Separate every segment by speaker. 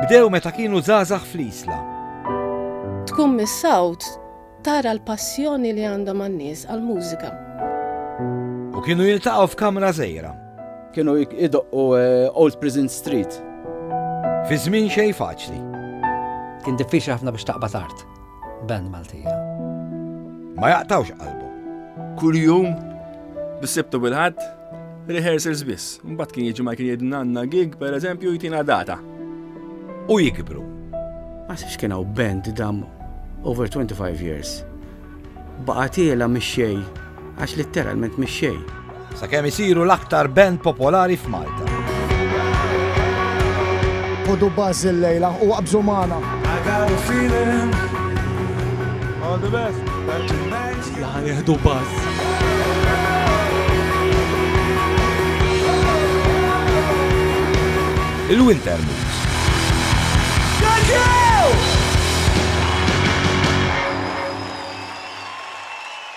Speaker 1: Bdew meta kienu żgħażagħ fl-Isla.
Speaker 2: Tkun mis-sawt tara l-passjoni li għandhom għan-nies għall-mużika.
Speaker 1: U kienu jiltaqgħu f'kamra żejra. Kienu
Speaker 3: idoqqu eh, Old Prison Street. Fi
Speaker 1: żmien xejn faċli. Kien
Speaker 4: diffiċli ħafna biex taqbad art. Band Maltija.
Speaker 1: Ma jaqtawx qalbhom. Kuljum
Speaker 5: bis-Sibt u bil-Ħadd rehearsals biss. Mbagħad kien jiġi ma kien jgħidna għandna gig pereżempju jtina data. U
Speaker 1: jikbru. Ma sibx
Speaker 3: kien hawn band dam over 25 years. Baqgħet iela mix-xejn Għax litteralment mix-xejn. Sakemm isiru
Speaker 1: l-aktar band popolari f'Malta.
Speaker 6: Ħudu buzz illejla u qabżu magħna.
Speaker 5: All the best. Sija ħa
Speaker 7: nieħdu buzz.
Speaker 1: Il-Winter Moves. Thank you!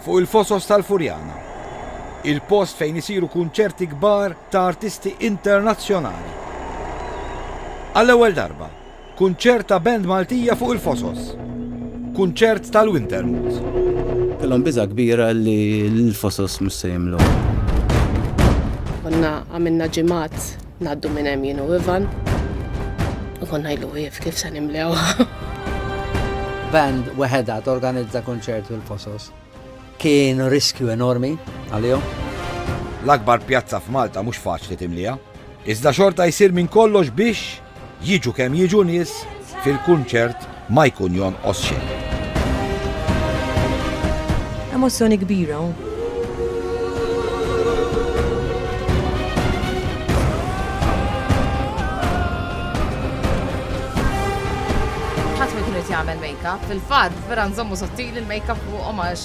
Speaker 1: Fuq il-Fosos tal-Furjana, il-post fejn isiru kunċerti kbar ta' artisti internazzjonali. Għall-ewwel darba, kunċert ta' band Maltija fuq il-Fosos. Kunċert tal-Wintermute. Kellhom biża'
Speaker 3: kbira li l-Fosos mhux se jimlew. Konna
Speaker 2: għamilna ġimgħat Ngħaddu minn hemm jien u Ivan u konna ngħidlu wieqf kif se nimlewha. Band
Speaker 4: weħedha torganizza kunċert fil-Fosos kien riskju enormi għalihom. L-akbar
Speaker 1: pjazza f'Malta mhux faċli timliha, iżda xorta jsir minn kollox biex Jiġu kemm jiġu nies, fil-kunċert ma jkun jonqos xejn.
Speaker 8: Emozzjoni kbira
Speaker 9: hawn. jagħmel make-up. Fil-fatt, vera nżommu sottili l-make-up fuqhom għax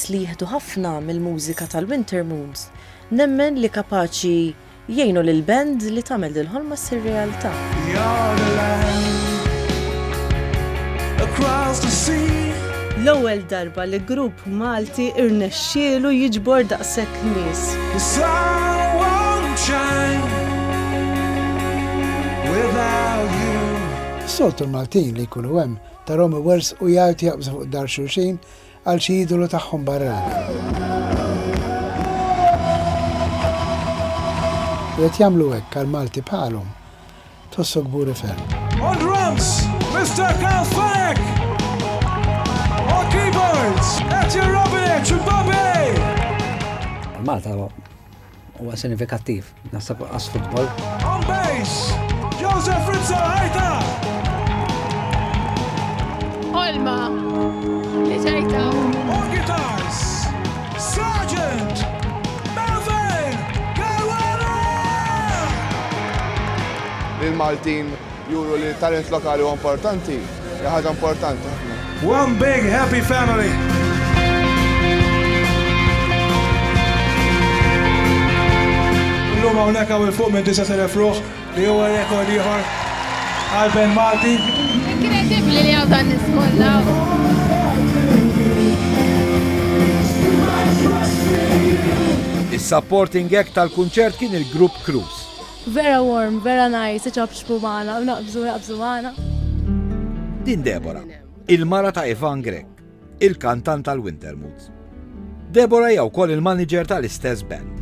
Speaker 8: Peress li jieħdu ħafna mill-mużika tal-Wintermoons, nemmen li kapaċi jgħinu lill-band li tagħmel dil-ħolma ssir realtà. L-ewwel darba li grupp Malti rnexxielu jiġbor daqshekk nies.
Speaker 6: Is-soltu l-Maltin li jkunu hemm tarahom iwerżqu jgħajtu jaqbżu fuq dahar xulxin, Għal xi idolu tagħhom barrani. U qed jagħmlu hekk għal Malti bħalhom, tħossu kburi ferm. On drums,
Speaker 7: Mr. Karl Fleck! On keyboards, Etje Robinec u Bobby!
Speaker 4: Malta Huwa sinifikattiv, naħseb qas futbol. On base,
Speaker 7: Joseph Rizzo Ħajta!
Speaker 9: Olma, li ġejta.
Speaker 7: On guitars, Sergeant!
Speaker 10: il-Maltin juru li talent lokali u importanti. Hija ħaġa importanti ħafna. One big
Speaker 7: happy family! Illum hawnhekk hawn il-fuq minn 9000 ruħ li huwa rekord ieħor għal Ben Malti. Inkredibbli
Speaker 9: li hawn dan niskolla.
Speaker 1: Is-supporting act tal-kunċert kien il-grupp Cruise. Vera warm,
Speaker 8: vera nice, iċapċpu magħna u naqbżu naqbżu magħna.
Speaker 1: Din Deborah, il-mara ta' Ivan Grech, il-kantant tal-Wintermoods. Deborah hija wkoll il-manager tal-istess band.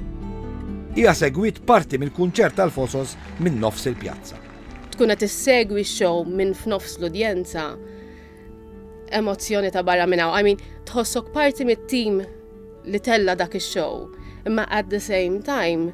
Speaker 1: Hija segwit parti mill-kunċert tal-Fosos minn nofs il-pjazza. Tkun qed
Speaker 2: issegwi x-show minn f'nofs l-udjenza emozzjoni ta' barra minn hawn. I mean, tħossok parti mit-tim li tella dak ix-show, imma at the same time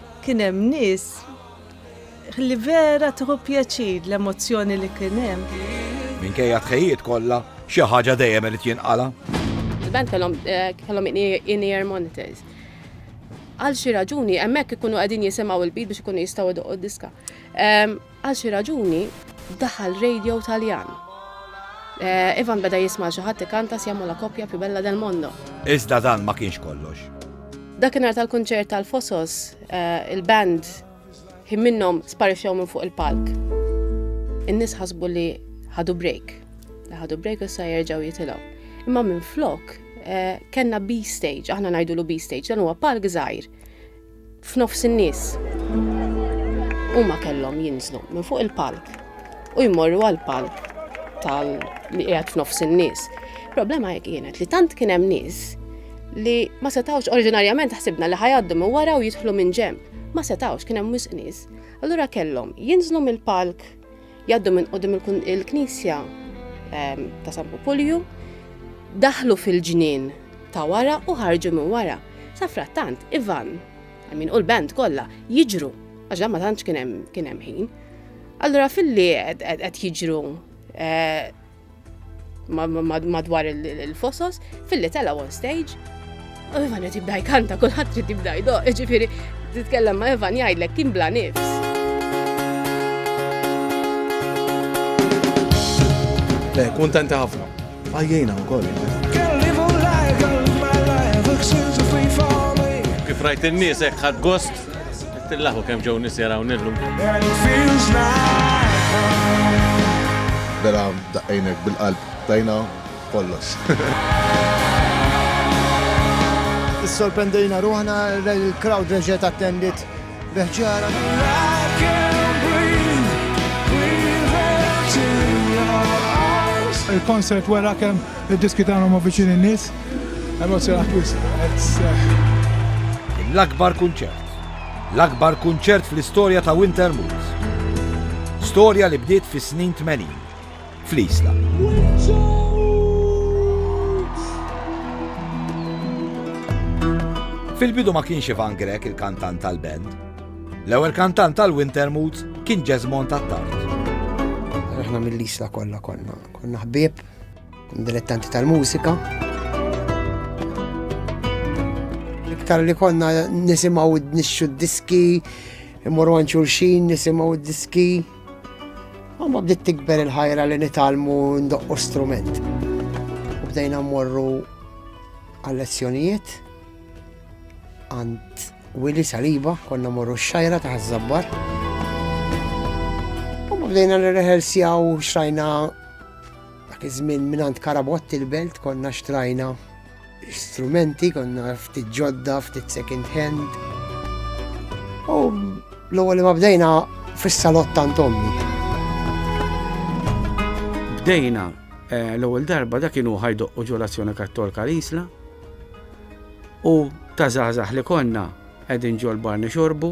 Speaker 8: Kien hemm nies li vera tieħu pjaċir l-emozzjoni li kien hemm. Minkejja
Speaker 1: t-tħejjijiet kollha, xi ħaġa dejjem irid jinqala'. Il-band kellhom
Speaker 2: eh, kellhom in-ear monitors. Għal xi raġuni hemmhekk ikunu qegħdin jisimgħu l-beat biex ikunu jistgħu jdoqqu d-diska. Ehm, Għal xi raġuni, daħal radio Taljan. Ivan beda jisma' lil xi ħadd ikanta Siamo la coppia più bella del mondo. Iżda dan ma kienx
Speaker 1: kollox. Dakinhar
Speaker 2: tal-kunċert tal-Fosos, il-band ħin minnhom sparixxew minn fuq il-palk. In-nies ħasbu li ħadu break, li ħadu break u issa jerġgħu jitilgħu. Imma minflok kellna B-stage, aħna ngħidulu B-stage, dan huwa palk żgħir F'nofs in-nies. Huma kellhom jinżlu minn fuq il-palk u jmorru għall-palk tal li qiegħed f'nofs in-nies. Problema hekk kienet li tant kien hemm nies li ma setawx oriġinarjament ħsibna li ħajaddu minn wara u jidħlu minn ġemp. Ma setawx kien hemm wisq nies. Allura kellhom jinżlu mill-palk Jgħaddu minn qudiem il-knisja ehm, ta' San Pupulju, daħlu fil-ġnien ta' wara u ħarġu minn wara. Sa frattant, Ivan, għamin u l-band kollha jiġru, għax ma tantx kien hemm ħin. Allura fil-li qed jiġru eh, madwar il-fosos, filli tela on stage, u Ivan qed jibda jkanta kulħadd trid jibda jdoq, ġifieri titkellem ma' Ivan jgħidlek kien bla nifs.
Speaker 11: Le, kuntenti ħafna. Għajjejna wkoll. Kif rajt in-nies hekk ħadd gost Tillaħu kemm ġew nies jarawni illum.
Speaker 10: Vera daqqejnek bil-qalb tajna kollox.
Speaker 12: Issorprendejna ruħna l-crowd reġgħet attendit beħġara.
Speaker 7: il-konsert wara kemm id-diski tagħna ma viċin in-nies. Emozjonat wis,
Speaker 1: L-akbar kunċert. L-akbar kunċert fl-istorja ta' Winter Moods. Storja li bdiet fis-snin 80 fl-Isla. Fil-bidu ma kienx Ivan Grek il-kantant tal-band. L-ewwel kantant tal-Winter Moods kien Jesmond Attard.
Speaker 12: Aħna mill-Isla kollha konna, konna ħbieb Dilettanti tal-mużika. Iktar li konna nisimaw nixxu d-diski, imorru għan xulxin, nisimaw d-diski. Għamma bdiet tikber il-ħajra li nitalmu ndoqqu strument. U bdejna morru għal-lezzjonijiet għand Willy Saliba, konna morru xajra ta' zabbar. U bdejna nirrehersjaw xrajna Dak iż-żmien mingħand Karabotti l-Belt konna xtrajna strumenti, konna ftit ġodda, ftit second hand. U l-ewwel li ma bdejna fis-salott tant ommi.
Speaker 3: Bdejna eh, l-ewwel darba dak kienu ħajdoq u ġolazzjoni kattolka l-isla u ta' żgħażagħ li konna qegħdin ġol barni xorbu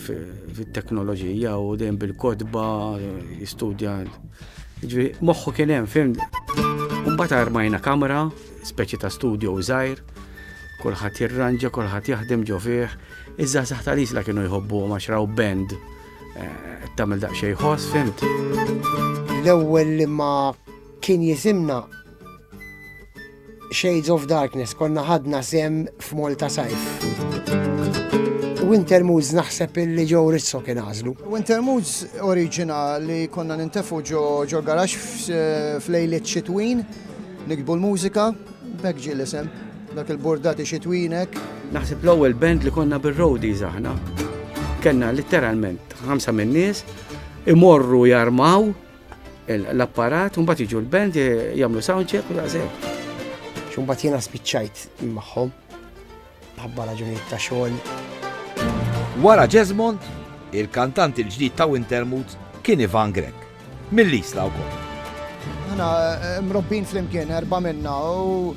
Speaker 3: fit-teknoloġija u dejjem bil-kotba jistudja. Ġifieri moħħu kien hemm, fim. Mbagħad armajna kamra, speċi ta' studio żgħir, kulħadd jirranġa, kulħadd jaħdem ġo fih. Iżda saħta li isla kienu jħobbu ma xraw band eh, tagħmel daqsxejn ħoss, fimt.
Speaker 12: L-ewwel li ma kien jisimna Shades of Darkness konna ħadna sem f'Malta Sajf. Winter Moods naħseb illi ġew rizzo kien għażlu. Winter Moods
Speaker 13: oriġina li konna nintefu ġo ġo garax f'lejliet xitwin, nikbu l-mużika, bekk ġie l-isem, dak il-bordati xitwinek. Naħseb l-ewwel
Speaker 3: band li konna bir-roadies aħna. Kenna litteralment ħamsa min-nies imorru jarmaw l-apparat, un bat iġu l-band jamlu soundcheck u daqseg. Xun bat jena
Speaker 12: spiċċajt maħħom, ħabba raġunijiet ta' xogħol.
Speaker 1: Wara Jesmond, il-kantant il-ġdid ta' Wintermut kien Ivan Grek, mill-Isla wkoll. Aħna
Speaker 13: eh, mrobbin flimkien erba' minna u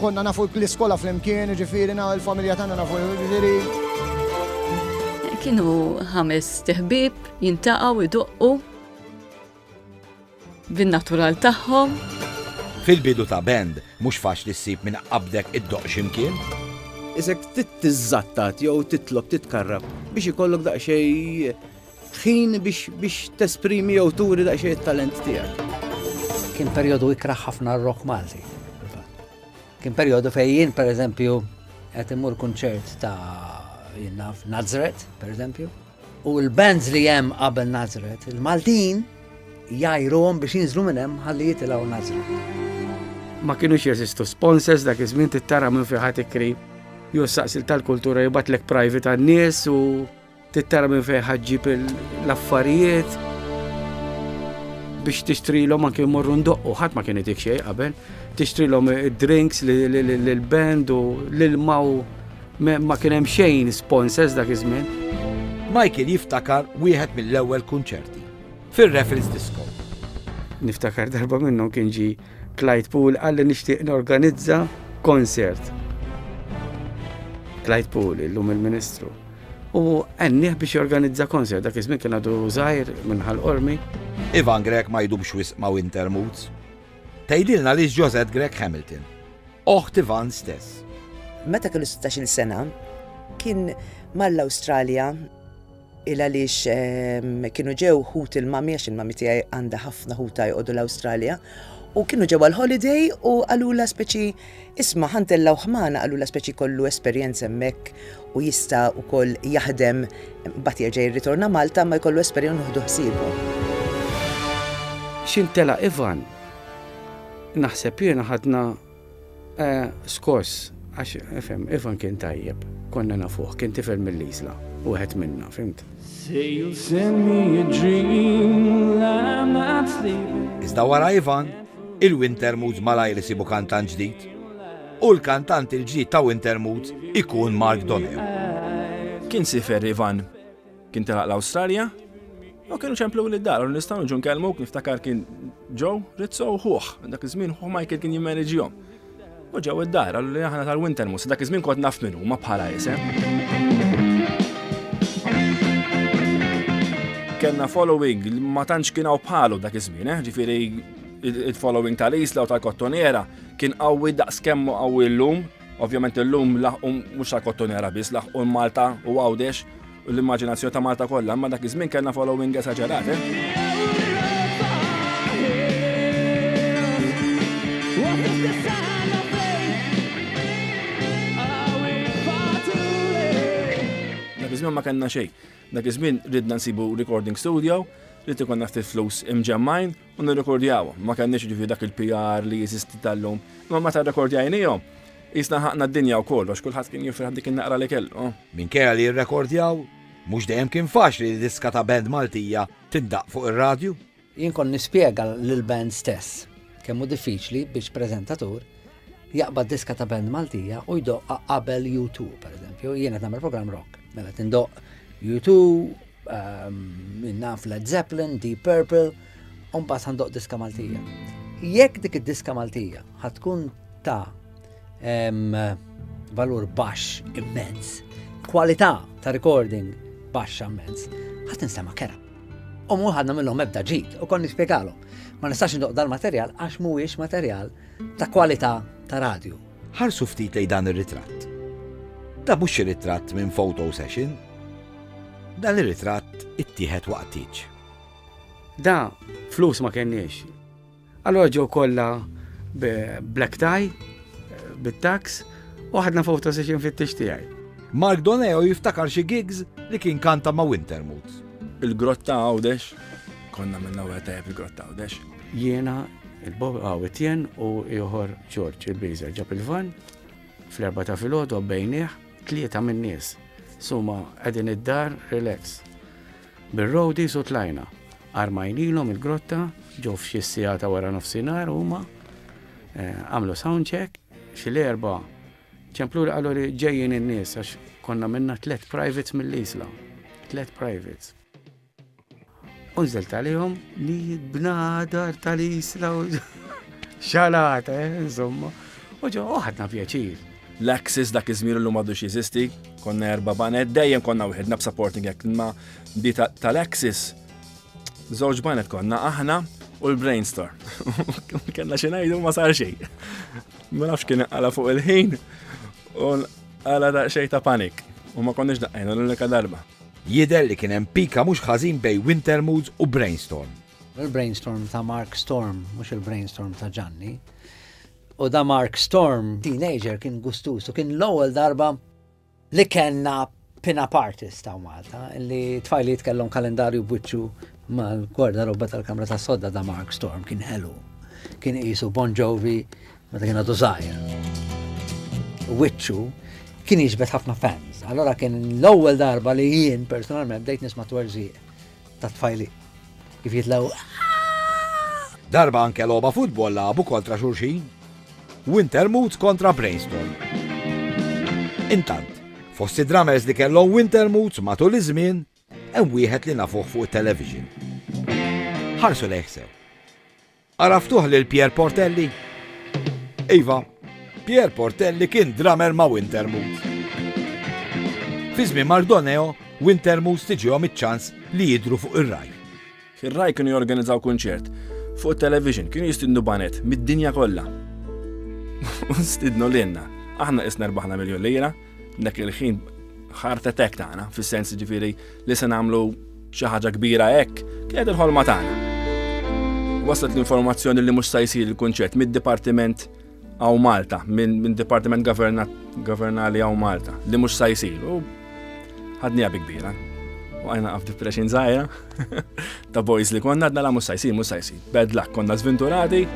Speaker 13: konna nafu l-iskola flimkien, ġifieri na l-familja tagħna nafu ġifieri. Kienu
Speaker 14: ħames teħbib Jintaqgħu jdoqqu bin-natural tagħhom. Fil-bidu
Speaker 1: ta' band, mhux faċli ssib min qabdek iddoqq xi mkien. Isek
Speaker 15: trid tiżżattat jew titlob titkarrab biex ikollok daqsxejn ħin biex tesprimi jew turi daqsxejn it-talent tiegħek. Kien perjodu ikrah
Speaker 4: ħafna r-rock Malti. Kien perjodu fejn jien pereżempju qed immur kunċert ta' jien naf Nazret, pereżempju, U l-bands li hemm qabel Nazret, il-Maltin jajruhom biex jinżlu minn hemm ħalli jitilgħu Nazret. Ma kienux
Speaker 3: jeżistu sponsors dak iż-żmien tittara minn fi ħadd ikri jew saqsil tal-kultura jibatlek private għan-nies u tittara minn fejn ħaġġib l-affarijiet biex tixtrilhom anke jmorru ndoqqu, ħadd ma kien itik xejn qabel, tixtrilhom id-drinks l-band u l-ilma u Ma kien hemm xejn sponsors dak iż-żmien. Michael
Speaker 1: jiftakar wieħed mill-ewwel kunċerti, fir-Raffles Disco. Niftakar
Speaker 3: darba minnhom kien ġie Clyde Poole qalli nixtieq norganizza konsert. Clyde Poole, illum il-Ministru. U għennieh biex jorganizza konsert, dak iż-żmien kien għadu żgħir minn ħal-qormi. Ivan Grech
Speaker 1: ma jdumx wisq ma' Wintermoods. Tgħidilna li Josette Grech Hamilton. oħt Ivan stess. Meta kellu
Speaker 16: 16-il sena, kien mar l-Awstralja il għaliex ehm, kienu ġew ħut il-mami, għax il-mami tiegħi għandha ħafna ħuta jqogħdu l-Awstralja, u kienu ġew għal-holiday u għalula speċi isma ħantella u ħmana għalula speċi kollu esperjenza hemmhekk u jista' ukoll jaħdem bat jerġa' jirritorna Malta ma jkollu esperjenza uħdu ħsiebu.
Speaker 3: Xintela Ivan Naħseb jiena ħadna eh, skors għax efhem, Ivan kien tajjeb, konna nafuh, kien tifel mill-Isla, wieħed minna, fimt.
Speaker 1: Iżda wara Ivan, il-Winter Moods malajr isibu kantant ġdid. U l-kantant il-ġdid ta' Winter Moods ikun Mark Donahue. Kien
Speaker 5: sifer Ivan Kien telaq l-Awstralja u kienu ċemplu li d-dar, u nistgħu nġu nkellmuk niftakar kien ġew Rizzo u ħuħ, dak iż-żmien ħuħ Michael kien jimmeneġihom. U ġew id-dar, għallu li aħna tal-Winter Mus, dak iż-żmien kont naf minn huma bħala isem. Kenna following ma tantx kien hawn bħalu dak iż-żmien, eh, ġifieri il-following tal-isla u tal-kottonera kien qawwi daqs kemmu qawwi llum Ovvjament illum laħqu mhux għal kottonera biss, laħqu Malta u għawdex u l-immaġinazzjoni ta' Malta kollha, imma dak iż-żmien kellna following esaġerat. Dak iż-żmien ma kellna xejn. Dak iż-żmien ridna nsibu recording studio, rrid ikonna ftit flus imġemmajn U nirrekordjaw, ma kellniex ġifi dak il-PR li jeżisti tal-lum, imma meta rrekordjajnihom, jisna ħaqna d-dinja u kollox, kulħadd kien jifraħ dik in-naqra li kellu. Minkejja li
Speaker 1: rrekordjaw, mhux dejjem kien faċli li diska ta' band Maltija tindaqq fuq ir-radju. Jien kont nispjega
Speaker 4: lill-band stess kemm hu diffiċli biex preżentatur jaqbad diska ta' band Maltija u jdoqqa qabel U2, pereżempju, jien qed nagħmel programm rock. Mela tindoqq U2, Ehm, naf Led Zeppelin, Deep Purple, un bat għandoq diska Maltija. Jekk dik id-diska Maltija ħatkun ta' ehm, valur baxx immens, kwalità ta' recording baxx immens, ħat nistema kera. U mu ħadna minnhom ebda ġid u konni spjegalhom. Ma nistax ndoq dal-materjal għax mhuwiex materjal ta' kwalità ta' radju. Ħarsu ftit lejn
Speaker 1: dan ir-ritratt. Dan mhux xi ritratt minn photo session. Dan ir-ritratt ittieħed waqt tieġ. Da,
Speaker 3: flus ma kenniex. Allora ġew kollha black tie, bit-tax, u ħadna photo session fit-tix tiegħi.
Speaker 1: Mark Doneo jiftakar xi gigs li kien kanta ma' Wintermoods. Il-grotta
Speaker 5: għawdex, konna minna u għetajab il-grotta għawdex. Jiena,
Speaker 3: il-Bob għaw Etienne u ieħor George il-Biżer ġab il-van fl-erba ta' filgħodu bejnieh tlieta min-nies. Suma qegħdin id-dar relax. Bir-rowdi su tlajna. Armajnilhom il-grotta ġew f'xi sija ta' wara nofsinhar huma eh, għamlu sound check xi l-erba' ċemplu li qalu li ġejjin in-nies għax konna minna tliet privates mill-isla. Tliet privates. Unżelt għalihom li bnadar tal-isla u xalata, eh, insomma. U ġo, uħadna pjaċir. L-Axis dak
Speaker 5: iż-żmir illum għadu jeżisti, konna erba' banet, dejjem konna wieħedna b'supporting act ma di tal-Axis. Żewġ banet konna aħna u l-brainstorm. Kenna xi ngħidu ma sar xejn. Ma nafx kien għala fuq il-ħin u għala xejn ta' panik. U ma konniex daqqajna l-unika darba. Jidher li kien
Speaker 1: hemm pika mhux ħażin bejn Wintermoods u Brainstorm. Il-Brainstorm
Speaker 4: ta' Mark Storm, mhux il-Brainstorm ta' Ġanni. U da Mark Storm, teenager, kien gustus u kien l-ewwel darba li kellna pin-up artist ta' Malta li tfajliet kellhom kalendarju b'wiċċu mal-gwarda robba tal-kamra tas-sodda da Mark Storm kien ħelu. Kien qisu Bon Jovi Meta kien għadu zaħir. Witchu kien jiġbed ħafna fans. Allora kien l-ewwel darba li jien personalment bdejt nisma' twerżiq ta' tfajli. Kif jitlaw.
Speaker 1: Darba anke logħba futbol labu kontra xulxin. Winter Moods kontra Brainstorm. Intant, fost id-drummers li kellhom Winter Moods matul iż-żmien, hemm wieħed li nafuh fuq it-television. Ħarsu lejħsew. Għaraftuh lil Pierre Portelli? Iva, Pierre Portelli kien drummer ma' Wintermood. Fi żmien Mardoneo, Wintermood tiġihom iċ-ċans li jidru fuq ir-raj. Ir-raj kienu
Speaker 5: jorganizzaw kunċert fuq television kienu jistidnu banet mid-dinja kollha. U stidnu lilna. Aħna isna rbaħna miljon lira. Dak il-ħin heart attack tagħna, fis-sens ġifieri li se nagħmlu xi ħaġa kbira hekk, kienet il-ħolma tagħna. Waslet l-informazzjoni li mhux se jsir il-kunċett mid-Dipartiment għaw Malta, minn Dipartiment Governali għaw Malta, li mhux se jsir. U ħadni kbira. U għajna għaf depression zaħira. Ta' boys li konna għadna la mhux sa jsir mhux sa jsir. Bad luck, konna żvinturati.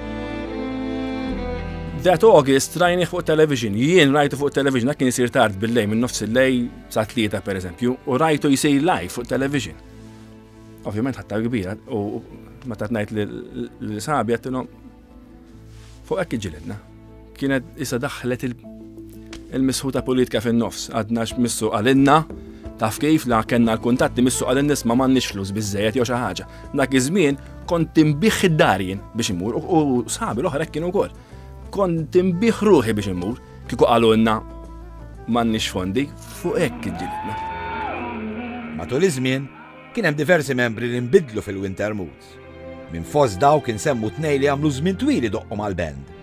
Speaker 5: That August rajni fuq television, jien rajtu fuq television, dak kien jisir tard bil-lej minn nofs il-lej sa' tlieta per eżempju, u rajtu jisir live fuq television. Ovvjament ħatta kbira, u ma tatnajt li sabi għattilom, Fuq hekk iġġilidna. Kienet isa daħlet il-misħuta politika fin-nofs, għadna x'missu għalinna, taf kif la kellna l-kuntatti missu għalin nisma' m'għandniex flus biżejjed jew xi ħaġa. Dak iż-żmien kont tinbih id-dar jien biex imur u sħabi l-oħra kienu wkoll. Kont tinbih ruħi biex imur kieku qalulna m'għandniex fondi fuq hekk iġġilidna.
Speaker 1: Matul iż-żmien kien hemm diversi membri li nbidlu fil-Wintermut. Minn fost dawk insemmu tnejn li għamlu żmien twil idoqqu mal-band.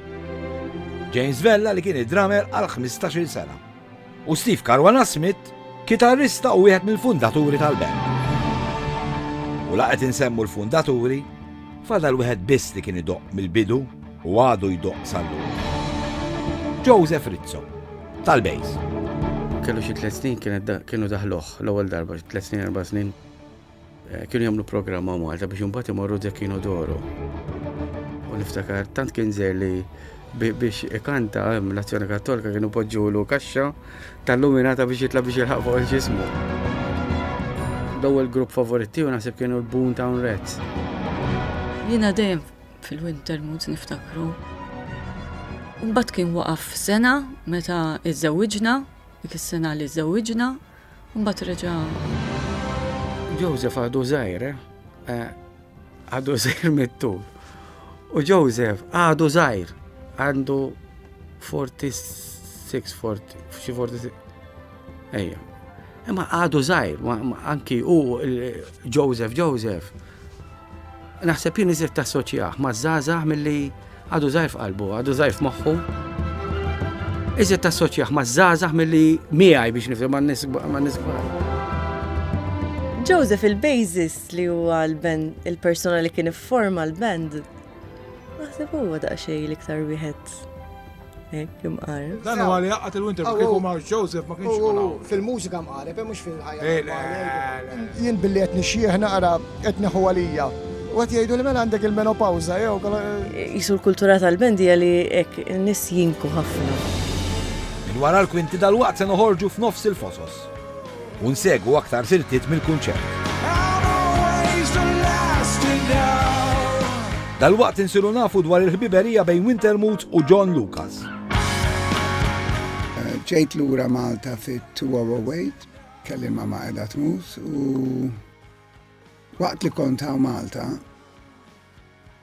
Speaker 1: James Vella li kien id-drummer għal 15-il sena u Steve Caruana Smith, kitarrista u wieħed mill-fundaturi tal-band. U laqet insemmu l-fundaturi, fadal wieħed biss li kien idoq mill-bidu u għadu jdoq sallu. Joseph Rizzo, tal-Bejs. Kellu
Speaker 3: xi tliet snin kienu daħluh l-ewwel darba, tliet snin erba' snin Eh, kienu jagħmlu programma Malta biex imbagħad imorru Zekino Doro. U niftakar tant kien żer li biex ikanta eh, l-azzjoni kattolika kienu poġġulu kaxxa tal-luminata biex jitla biex jilħaq fuq il-ġismu. L-ewwel grupp favoriti u naħseb kienu l-Boon Town Reds.
Speaker 14: Jiena dejjem fil-winter moods niftakru. Mbagħad kien waqaf sena meta iżżewġna, dik is-sena li żżewġna, u mbagħad reġa'.
Speaker 3: Joseph għadu żgħir, eh? għadu żgħir mit-tul. U Joseph għadu żgħir, għandu 46, 40, xi 46. Ejja. Imma għadu żgħir, anki u Joseph Joseph Naħseb jien iżjed tassoċjah maż-żgħażagħ milli għadu żgħir f'qalbu, għadu żgħir f'moħħu. Iżjed tassoċjah maż-żgħażagħ milli miegħi biex nifhem ma' nies kbar.
Speaker 8: Joseph il-Basis li huwa l-band, il-persuna li kien ifforma l-band, Naħseb huwa daqsxejn l-iktar wieħed hekk imqar. Dan huwa li
Speaker 7: jaqgħad il-winter ma kieku ma' Joseph ma kienx ikun hawn. Fil-mużika mqareb, eh, mhux
Speaker 13: fil-ħajja. Eh,
Speaker 7: Jien billi qed
Speaker 13: nixjieħ naqra qed neħu għalija. U għat jgħidu li mela għandek il-menopawza, jew. Jisu l-kultura
Speaker 8: tal-bendija li ek nis jinku ħafna. Minn
Speaker 1: wara l-kwinti dal-waqt se noħorġu f'nofs il-fosos. u nsegwu aktar siltiet mill-kunċert. Dalwaqt insiru nafu dwar il-ħbiberija bejn Wintermuth u John Lucas.
Speaker 6: Ġejt lura Malta fit-2008, kelli ma ma edha tmus u waqt li kont hawn Malta,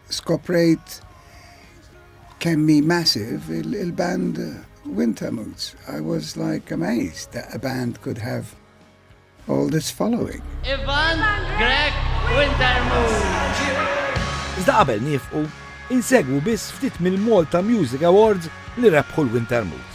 Speaker 6: Skoprejt kemm hi massive il-band Wintermutes. I was like amazed that a band could have all this following. Ivan
Speaker 17: Greg Wintermutes. Iżda
Speaker 1: qabel niefqu, insegwu biss ftit mill-Malta Music Awards li rebħu l-Wintermutes.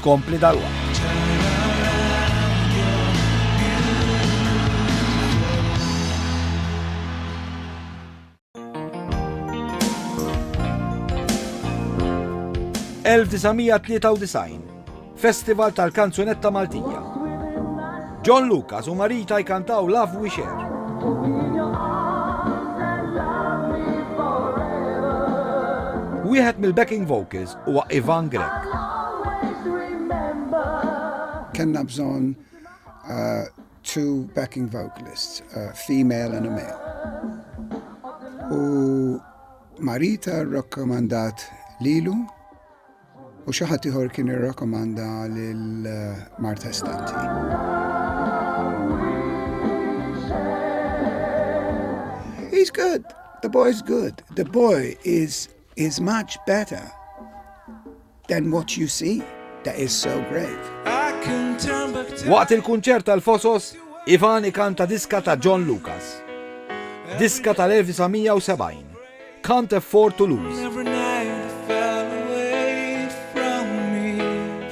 Speaker 1: tkompli dalwaqt. ...1993, Festival tal-Kanzunetta Maltija. John Lucas u Marita jkantaw Love We Share. Wieħed mill-backing vocals huwa Ivan Grech.
Speaker 6: Kellna bżonn two backing vocalists, a female and a male. U Marita rrakkomandat lilu u xi ħadd ieħor kien irrakkomanda lil Marta Estanti. He's good. The boy's good. The boy is is much better than what you see that is so great.
Speaker 1: Waqt il-kunċert tal-Fosos, Ivan ikanta diska ta' John Lucas. Diska tal-1970, Can't Afford to Lose.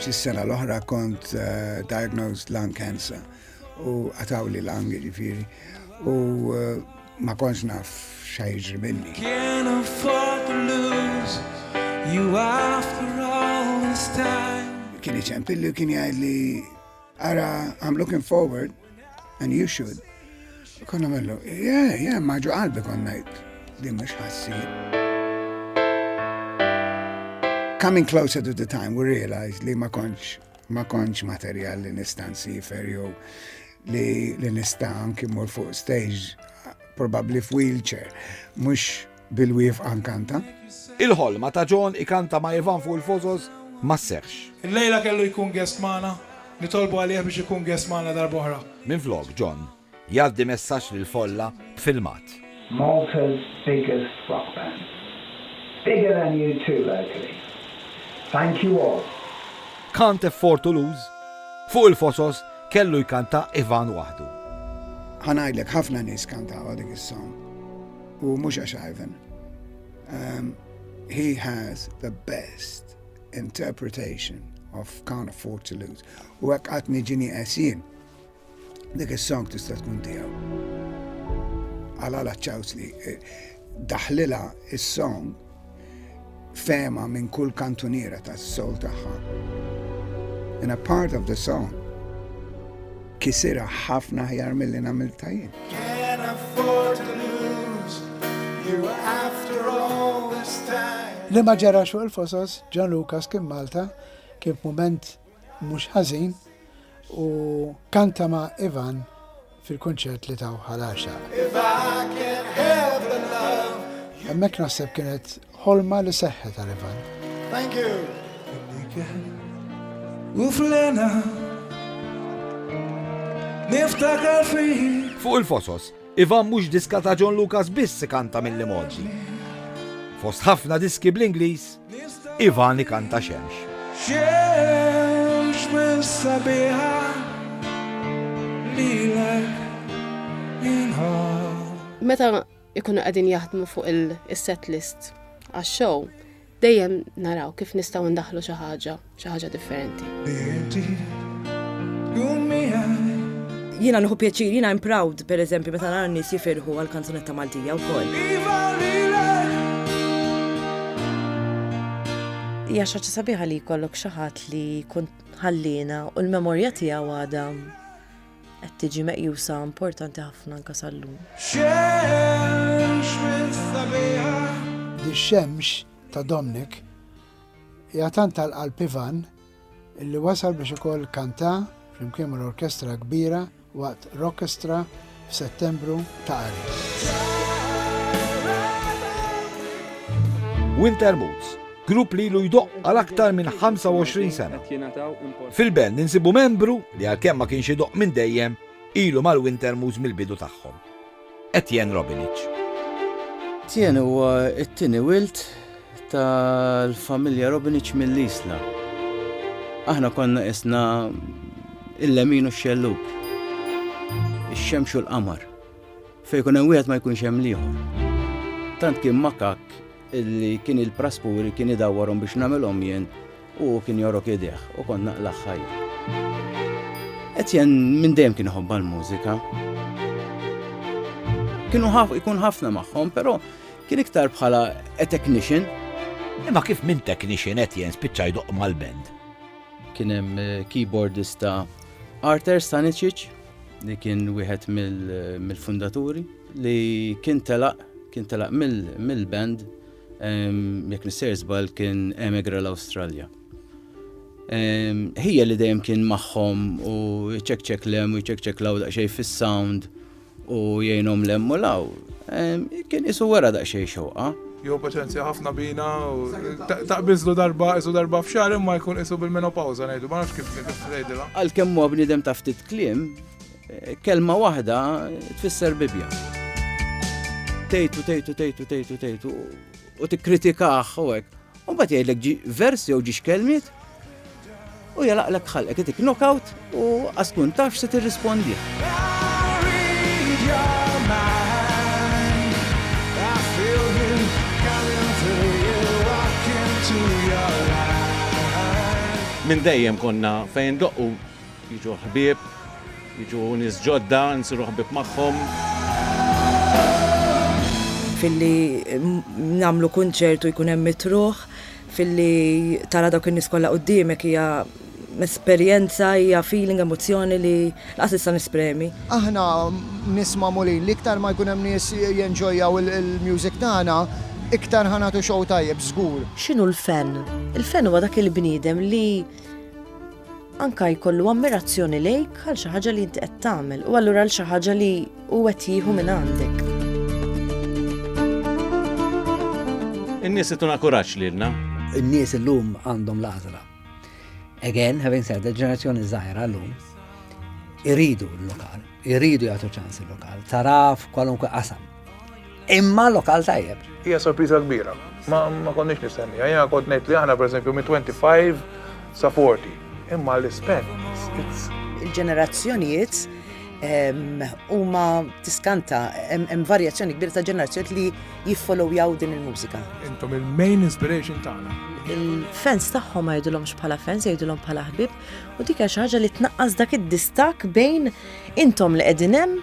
Speaker 6: Fis-sena l-oħra kont eh, diagnosed lung cancer U għatawli l-angi ġifiri. U eh, ma konx naf xajġri minni. Can't afford
Speaker 18: to lose you after all this time. Kien iċempilli
Speaker 6: u kien jgħid li ara I'm looking forward and you should. Konna mellu, yeah, yeah, maġu qalbi konna jgħid. Din mux ħassi. Coming closer to the time, we realized li ma konċ Ma kontx materjal li nista' nsifer jew li nista' anki mmur fuq stage probabbli f'wheelchair, mhux bil-wifqa nkanta. Il-ħolma
Speaker 1: ta' John ikanta ma' Ivan fuq il-Fosos ma sseħħx. Illejla kellu jkun
Speaker 7: guest magħna, nitolbu għalih biex ikun guest magħna darb'oħra. Minflok John,
Speaker 1: Jgħaddi messaġġ lill-folla b'filmat. Malta's
Speaker 19: biggest rock band. Bigger than U two locally. Thank you all. Can't
Speaker 1: afford to lose. Fuq il-fosos kellu jkanta Ivan waħdu. Ħa ngħidlek
Speaker 6: ħafna nies kantawha dik is-song. U mhux għax Ivan. He has the best interpretation of Can't afford to lose. U hekk qatt niġini qes jien. Dik is-song tista' tkun tiegħu. Għala la ċawsli eh, daħlila is-song fema minn kull kantuniera tas-sol tagħha. In a part of the song kisira ħafna ħjar mill-li namil tajin. Can't afford
Speaker 18: to lose you after all this time. Li ma ġara fuq
Speaker 6: il-fosos, John Lucas kien Malta, kien moment Mhux ħażin, u kanta ma' Ivan fil-kunċert li taw Ħal Għaxaq.
Speaker 18: Hemmhekk naħseb
Speaker 6: kienet ħolma li seħħet għal Ivan. Thank you.
Speaker 18: U flena niftakar fik Fuq il-fosos,
Speaker 1: Iva mhux diska ta' John Lucas biss ikanta mill-Imoġi. Fost ħafna diski bl-Ingliż, Ivan ikanta Xemx. Xemx
Speaker 18: minn sabiħa
Speaker 1: lilek
Speaker 2: Meta ikunu qegħdin jaħdmu fuq il-set list għax-show, Dejjem naraw kif nistgħu ndaħlu xi ħaġa, xi ħaġa differenti.
Speaker 20: Jiena nieħu pjaċir, jiena I'm proud, per eżempju, meta nara nies jifirħu għal kanzunetta Maltija wkoll.
Speaker 8: Hija xi ħaġa sabiħa li jkollok xi ħadd li jkun ħallina u l-memorja tiegħu għadha qed tiġi meqjusa importanti ħafna anke sal-lum.
Speaker 6: Dix-xemx ta' Domnik hija tant tal-qalb Ivan illi wasal biex ukoll kanta flimkien mal-orkestra kbira waqt Rockestra f'Settembru ta' Aris.
Speaker 1: Winter Moods grupp li ilu jdoqq għal aktar minn 25 sena. Fil-Bell ninsibu membru li għalkemm ma kienx idoqq minn dejjem, ilu mal-Wintermoos mill-bidu tagħhom. Etienne Robinic. Etienne
Speaker 15: huwa t-tieni wild tal-familja Robinic mill-Isla. Aħna konna isna il-lemin u x-xelluk, ix-xemx u l-qamar. Fejn ikun hemm wieħed ma jkunx hemm l-ieħor. Tant kien makakk illi kien il-praspuri kien idawwarhom biex nagħmilhom jien u hu kien jorok idejh u kont naqlagħ ħajr. Etienne minn dejjem kien iħobba l-mużika. Kienu ikun ħafna magħhom, però kien iktar bħala a technician. Imma kif
Speaker 1: minn technician qed jens spiċċa jdoq mal-band? Kien hemm
Speaker 15: eh, keyboardista Arthur Stanicic, li kien wieħed mill-fundaturi li kien telaq kien telaq mill-band jekk nisser żbal kien emigra l-Awstralja. Ħija li dejjem kien magħhom u ċekċek lem u ċekċek law daqsxejn fis-sound u jgħinhom lem u law. Kien isu wara daqsxejn xewqa. Jieħu paċenzja
Speaker 7: ħafna bina u taqbiżlu darba qisu darba f'xahar imma jkun qisu bil-menopawża ngħidu ma nafx kif tgħidilha. Għalkemm huwa bniedem ta'
Speaker 15: ftit kliem, eh, kelma waħda tfisser Bibja. Tejtu, tejtu, tejtu, tejtu, tejtu u tikkritikah u hekk. U mbagħad jgħidlek versi jew ġiex kelmiet U jalaqlek ħalqek itik knockout u għas tkun tafx se tirrispondi.
Speaker 11: Minn dejjem konna fejn doqqu jiġu ħbieb, jiġu nies ġodda, nsiru ħbieb magħhom.
Speaker 20: filli namlu kunċertu jkun hemm mitruħ Filli tara dawk in-nies kollha quddiemek hija esperjenza, hija feeling, emozzjoni li lanqas nista' nespremi. Aħna
Speaker 13: nies magħmulin li iktar ma jkun hemm nies jenġojjaw il-music tagħna, iktar ħa nagħtu show tajjeb żgur. X'inhu l-fan?
Speaker 8: Il-fan huwa dak il-bniedem li anke jkollu ammirazzjoni lejk għal xi ħaġa li inti qed tagħmel u allura għal xi ħaġa li, Hu qed jieħu minn għandek.
Speaker 11: In-nies ituna kuraġġ lilna. In-nies illum
Speaker 4: għandhom l-għażla. Again, having said, il-ġenerazzjoni żgħira llum iridu l-lokal, iridu jagħtu ċans il-lokal, taraf kwalunkwe qasam. Imma lokal tajjeb. Hija sorpriża kbira.
Speaker 7: Ma ma konniex nistenniha. Jiena kont ngħid li aħna pereżempju minn 25 sa 40. Imma l-ispen it's il-ġenerazzjonijiet
Speaker 16: ehm, huma tiskanta hemm varjazzjoni kbira ta' ġenerazzjonijiet li jiffollowjaw din il-mużika. Intom il-main
Speaker 7: inspiration tagħna. Il-fans
Speaker 8: tagħhom ma jgħidulhomx bħala fans, jgħidulhom bħala ħbib u dik xi ħaġa li tnaqqas dak id-distak bejn intom li qegħdin hemm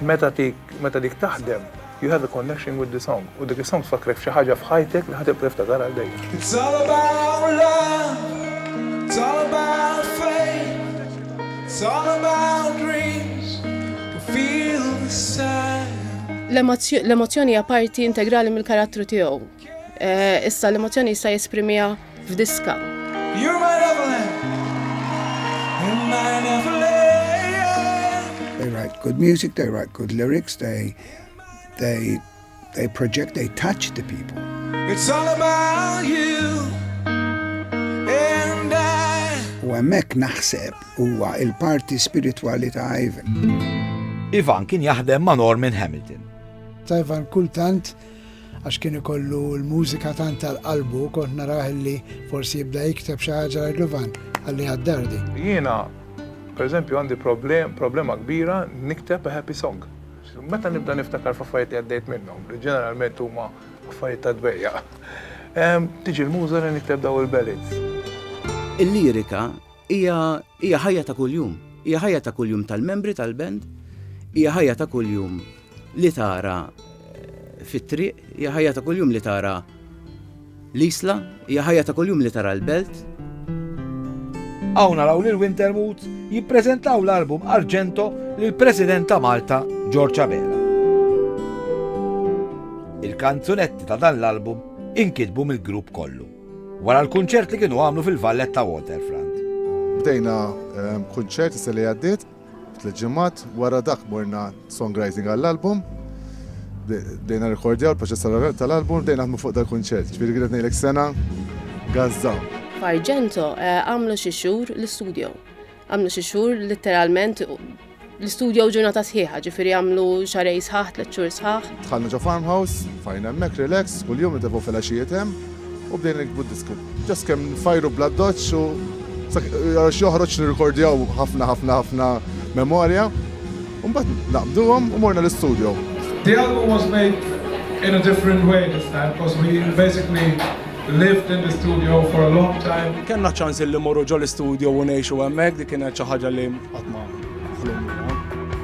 Speaker 7: Meta tik, meta dik taħdem, you have a connection with the song, u dik is-song tfakkrek f'xi ħaġa f'ħajtek li ħa tibqa' tiftakar għal dejjem. It's all about love, it's
Speaker 18: all about faith, it's all about dreams, we feel the same.
Speaker 2: L-emozzjoni hija parti integrali mill-karattru tiegħu. Eh, issa l-emozzjoni jista' jesprimiha f'diska. You're my
Speaker 18: Neverland. You're my
Speaker 6: Neverland. They write good music, they write
Speaker 18: good
Speaker 6: lyrics, they they they project, they touch the people. It's all
Speaker 18: about you. u hemmhekk
Speaker 6: naħseb huwa il-parti spiritwali ta' Ivan. Ivan
Speaker 1: kien jaħdem ma' Norman Hamilton. Ta' Ivan
Speaker 12: kultant għax kien ikollu l-mużika tant tal-qalbu kont narah illi forsi jibda jikteb xi ħaġa ngħidlu Van, ħalliha d-dar din. Jiena,
Speaker 7: pereżempju, għandi problema kbira nikteb a happy song. Meta nibda niftakar f'affarijiet li għaddejt minnhom, li ġeneralment huma affarijiet ta' dbejjaq, tiġi l-muża li nikteb dawn il-ballads.
Speaker 15: Il-lirika Hija hija ħajja ta' kuljum, hija ħajja ta' kuljum tal-membri tal-band, hija ħajja ta' kuljum li tara eh, fit-triq, hija ħajja ta' kuljum li tara l-isla, hija ħajja ta' kuljum li tara l-belt.
Speaker 1: Hawn naraw lil Wintermut jippreżentaw l-album Argento lil President ta' Malta George Abela. Il-kanzunetti ta' dan l-album inkitbu mill-grupp kollu. Wara l-kunċert li kienu għamlu fil-Valletta Waterfront. Bdejna
Speaker 10: ehm, kunċert is li għaddiet tliet ġimgħat wara dak morna songwriting għall-album. Bdejna rekordjaw il-proċess tal-album, bdejna naħdmu fuq dal-kunċert. Ġifieri kienet ngħidlek sena gazza. F'Arġento
Speaker 2: eh, għamlu xi xhur l-istudio. Għamlu xi xhur litteralment l-istudjow ġurnata sħiħa, ġifieri għamlu xarej sħaħ, tliet xhur sħaħ. Dħalna ġo farmhouse,
Speaker 10: fajna hemmhekk relax, kuljum nitefgħu filgħaxijiet hemm u bdejna nikbu d-diski. Ġast kemm nfajru bl-addoċċ u għax joħroġ nirrikordjaw ħafna ħafna ħafna memorja u mbagħad naqbduhom u morna l-istudjow. The album was
Speaker 18: made in a different way this time, coz we basically lived in the studio for a long time. Kenna ċans li morru
Speaker 5: ġol studio u nejxu hemmhekk dik kienet xi ħaġa li qatt ma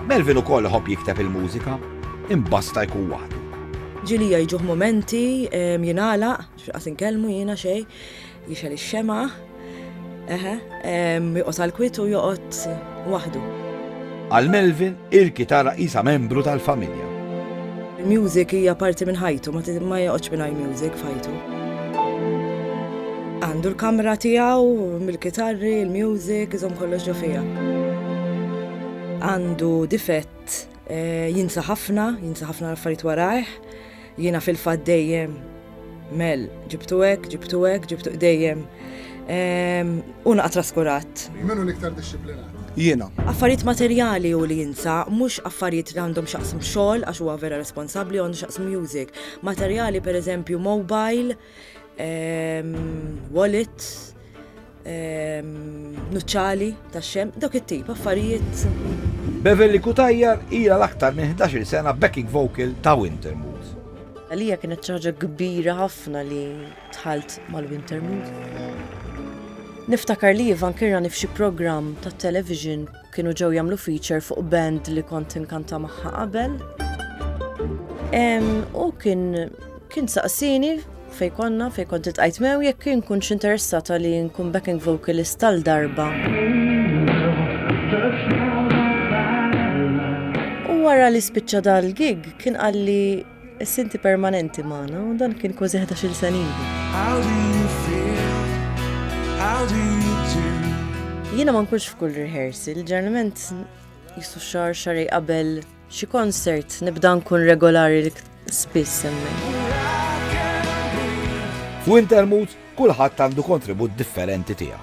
Speaker 5: Melvin ukoll ħobb
Speaker 1: jikteb il-mużika, imbasta jkun waħdu. Ġili jgħiduh
Speaker 20: momenti, jingħalaq, x'qas inkellmu jiena xejn, jixel ix-xema. Eħe, joqgħod għall-kwiet u joqgħod waħdu. Għal
Speaker 1: Melvin, il-kitara qisha membru tal-familja. Il-music
Speaker 20: hija parti minn ħajtu, ma joqgħodx mingħajr music f'ħajtu. Għandu l-kamra tiegħu mill-kitarri, il-music, iżom kollox ġo fija. Għandu difett Jinsa ħafna, jinsa ħafna l-affarijiet warajh. Jiena fil-fatt dejjem mel ġibtu hekk, ġibtu hekk, ġibtu dejjem. Ehm, u naqa' traskurat. Minu l-iktar
Speaker 10: dixxiplinat? Jiena. Affarijiet
Speaker 5: materjali
Speaker 20: u li jinsa, mhux affarijiet li għandhom xaqsm xogħol għax huwa vera responsabbli għandu xaqsm music. Materjali pereżempju mobile, ehm, wallet, nuċċali tax-xemx, dawk it-tip affarijiet. Beverly
Speaker 1: Cutajar hija l-aktar minn 11-il sena backing vocal ta' Wintermood. Għalija kienet
Speaker 8: xi ħaġa kbira ħafna li dħalt mal-Wintermood. Niftakar li Ivan kien rani f'xi programm tat-television Kienu ġew jagħmlu feature fuq band li kont inkanta magħha qabel. U kien kien saqsini fej konna fej kont itqajt mew jekk kien kunx interessata li nkun backing vocalist tal-darba. U wara li spiċċa dal-gig kien qalli Issa inti permanenti magħna u dan kien kważi ħdax-il sena ilu. Jiena ma nkunx f'kull rehearsal, ġeneralment jisu xar xarej qabel xi konsert nibda nkun regolari li spiss hemmhekk. F'Wintermoods
Speaker 1: kulħadd għandu kontribut differenti tiegħu.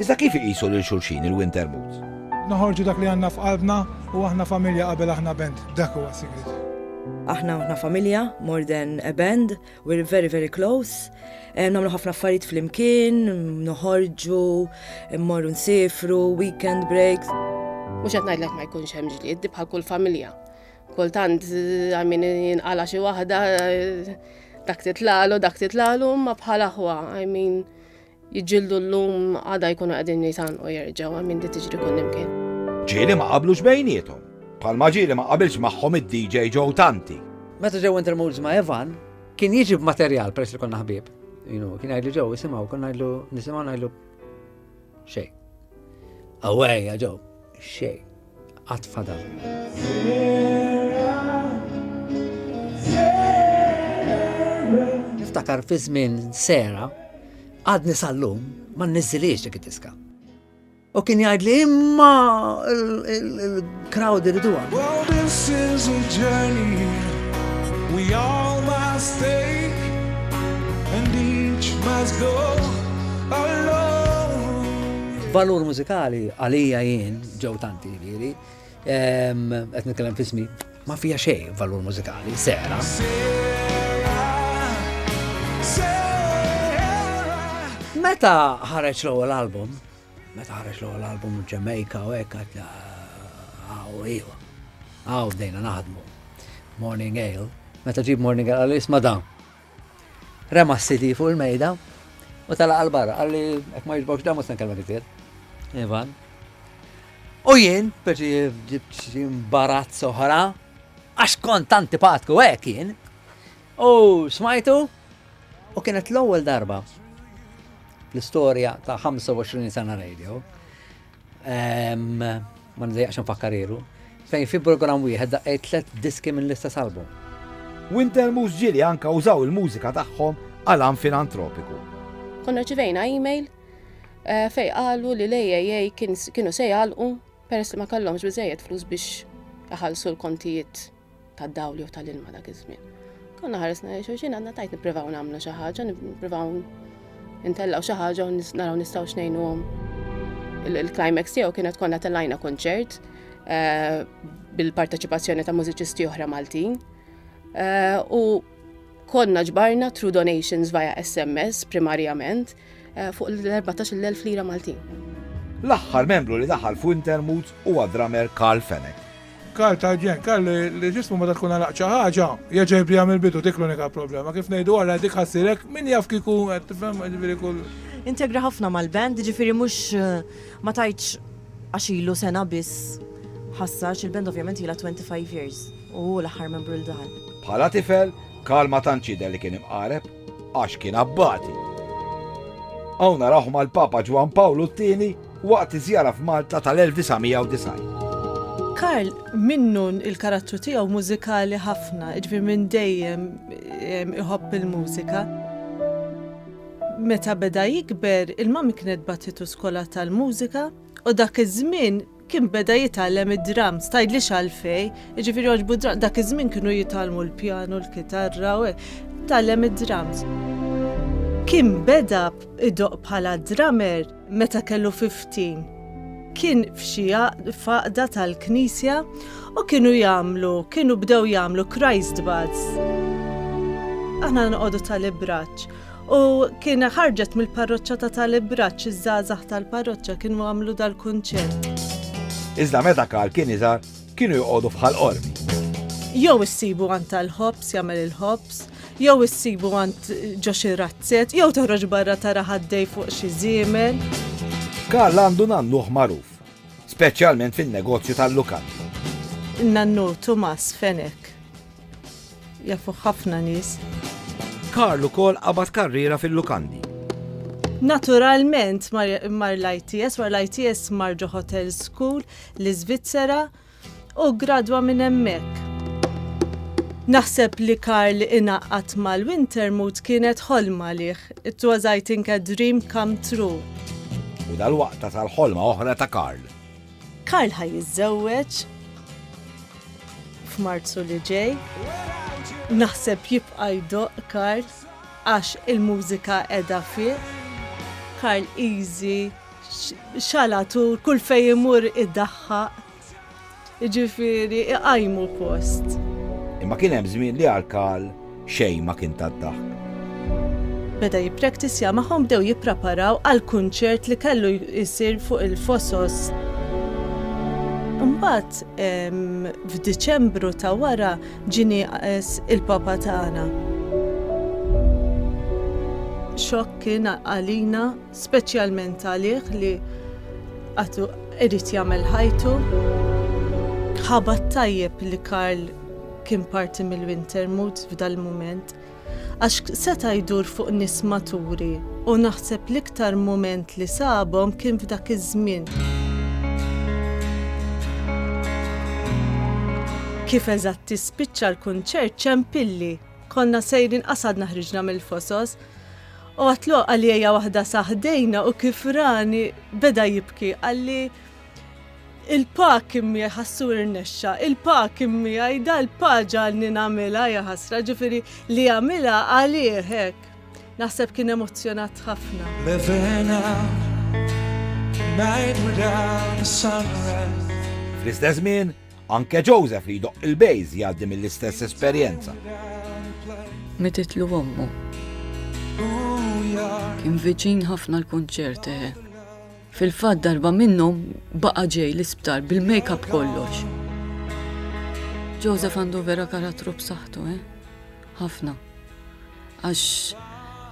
Speaker 1: Iżda kif iqisu lil xulxin il-Wintermutes? Noħorġu dak li
Speaker 7: għandna f'qalbna u aħna familja qabel aħna band, dak huwa s-sigriet. Aħna aħna
Speaker 20: familja, more than a band, we're very very close. Eh, Namlu ħafna affarijiet flimkien, noħorġu, mmorru nsifru, weekend breaks. Mhux qed ngħidlek
Speaker 2: ma jkunx hemm ġlied di bħal kull familja. Kultant eh, għamin jinqala xi waħda eh, dak titlalu, dak titlalu, ma bħal aħwa, I mean, Jiġġieldu llum għada jkunu qegħdin jitgħannqu jerġgħu hemm min di tiġri kullimkien. Ġieli ma qablux
Speaker 1: bejniethom. Bħalma ġieli ma qabilx magħhom id-DJ Joe Tanti. Meta ġew intermoods
Speaker 4: ma' Evan, kien jiġi b'materjal peress li konna ħbieb. Jinu, kien għajlu ġew, jisimaw, konna għajlu, nisimaw għajlu xej. Awaj, ġew, xej. qatt fadal. Niftakar fi żmien sera għadni sal-lum ma nniżiliex dik id-diska. U kien jgħid li imma
Speaker 18: il-crowd
Speaker 4: iridu
Speaker 18: Well, this is a journey we all must take and each must go alone. Valur mużikali
Speaker 4: għalija jien Ġew tanti jiġifieri. Qed nitkellem f'ismi ma fija xejn valur mużikali, sera. Meta ħareġ l-ewwel album, meta ħareġ l-ewwel album Ġemejka u hekk għad għaw iju. Għaw bdejna naħdmu. Morning Ale. Meta ġib Morning Ale għal isma dan. Rema s-CD fuq il-mejda u tala għal-barra, għalli ek ma jġbokx damu s-san kelma kizir. Ivan. U jien, perċi ġibt ximbarat soħra, għax kont antipatku għek jien, u smajtu, u kienet l-ewwel darba l-istorja ta' 25 sena radio, Ma nidejjaqx nfakkar ilu. Fejn fi programm wieħed daqqej tliet diski minn l-istess album. Wintermus
Speaker 1: ġieli anke użaw il-mużika tagħhom għal għan filantropiku. Konna rċivejna
Speaker 2: email eh, fejn qalu li l-AAA kienu se jgħalqu peress li ma kellhomx biżejjed flus biex iħallsu l-kontijiet tad-dawl jew tal-ilma dak iż-żmien. Konna ħaresna li xulxin għandna tajt nippruvaw nagħmlu xi ħaġa, nippruvaw intellgħu xi ħaġa u naraw nistgħu xnejnuhom. Il-climax tiegħu kienet konna tellajna kunċert eh, bil-parteċipazzjoni ta' mużiċisti oħra Maltin. Eh, u konna ġbarna true donations via SMS primarjament eh, fuq l-14.000 lira Maltin. L-aħħar
Speaker 1: membru li daħal fuq Intermoods huwa drummer Carl Fennec Karl Targent,
Speaker 7: Karl, li ġismu meta tkun għalaq xi ħaġa, jerġa' jibdiha mill-bidu, dik l-unika problema. Kif ngħidu ara dik ħassirek, min jaf kieku qed tifhem, jiġifieri kull. Integra ħafna
Speaker 8: mal-band, jiġifieri mhux ma tgħidx għax ilu sena biss ħassar, għax il-band ovvjament ilha 25 years u hu l-aħħar membru li daħal. Bħala tifel,
Speaker 1: Karl ma tantx jidher li kien imqareb. għax kien abbati. Hawn narawh mal-Papa Ġwann Pawlu t-Tieni waqt iż-żjara f'Malta tal-1990.
Speaker 21: Karl minnu l-karattru tiegħu mużikali ħafna, jiġifieri minn dejjem iħobb il-mużika. Meta beda jikber, il-Mami kienet bagħtitu skola tal-mużika u dak iż-żmien Kien beda jitgħallem id-drums, tgħidlix għalfejn, jiġifieri jogħġbu d-drums, dak iż-żmien kienu jitgħallmu l-pjanu, l-kitarra u hekk, tgħallem id-drums. Kien beda idoqq bħala drummer meta kellu 15. Kien f'xi faqda tal-knisja u kienu jagħmlu, kienu bdew jagħmlu Christ Baths. Aħna noqogħdu tal-ibraċċ U kien ħarġet mill-parroċċa ta' tal-ibraċ iż-żgħażagħ tal-parroċċa kienu għamlu dal-kunċert. Iżda
Speaker 1: meta Karl kien iżgħar kienu joqogħdu fħal qormi. Jew
Speaker 21: issibu għand tal-ħobs jagħmel il-ħobs, jew issibu għand ġo xi razzett, jew toħroġ barra tara ħaddej fuq xi żiemel. Karl
Speaker 1: għandu nannuh magħruf, speċjalment fin-negozju tal-lukandi. Nannu
Speaker 21: Tumas Fenek Jafu ħafna nies. Karl
Speaker 1: ukoll qabad karriera fil-lukandi. Naturalment
Speaker 21: mar l-ITS, wara l-ITS mar ġo Hotel School l-Iżvizzera u gradwa minn hemmhekk. Naħseb li Karl inaqqat mal-Wintermut kienet ħolma liħ. It was I think a dream come true. U
Speaker 1: dal-waqta tal-ħolma oħra ta' Karl. Karl ħa
Speaker 21: jiżżewweġ f'Marzu li ġej. Naħseb jibqa' jdoq Karl għax il-mużika qiegħda fih. Karl easy xalatu kull fejn imur idaħħaq. Ġifieri iqajmu post. Imma kien
Speaker 1: hemm żmien li għal Karl Xejn ma kien tad-daħk.
Speaker 21: Meta jippraktizja magħhom bdew jippraparaw għal kunċert li kellu jsir fuq il-Fosos. Imbagħad f'Diċembru ta' wara ġie nieqes il-Papa tagħna. Xokk kien għalina, speċjalment għalih li għadu irid jagħmel ħajtu. Ħabat tajjeb li Karl kien parti mill-Winter Moods f'dal-mument, għax seta' jdur fuq nies maturi u naħseb l-iktar mument li sabhom kien f'dak iż-żmien. Kif eżatt jispiċċa l-kunċert ċempilli. Konna sejrin qas għadna ħriġna mill-fosos u għatlu għalija waħda sa ħdejna u kif rani beda jibki qalli Il-pak immi ħassu irnexxa, il-pak immi għajda l-pa ġalni namila jaħasra ġifiri li għamila għalih hekk. Naħseb kien emozjonat ħafna.
Speaker 18: Fl-istess żmien,
Speaker 1: anke Joseph li jdoq il-bejz jgħaddi mill-istess esperjenza.
Speaker 14: Mititlu ommu. Kien viċin ħafna l-kunċert eħe. Eh. Fil-fatt darba minnhom baqa' ġej l-isptar bil-makeup kollox. Joseph għandu vera karattru b'saħħtu, eh? Ħafna. Għax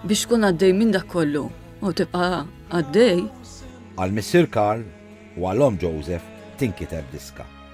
Speaker 14: biex tkun għaddej minn dak kollu u tibqa' għaddej. Għal missier
Speaker 1: Karl u għal omm Joseph tinkiteb diska.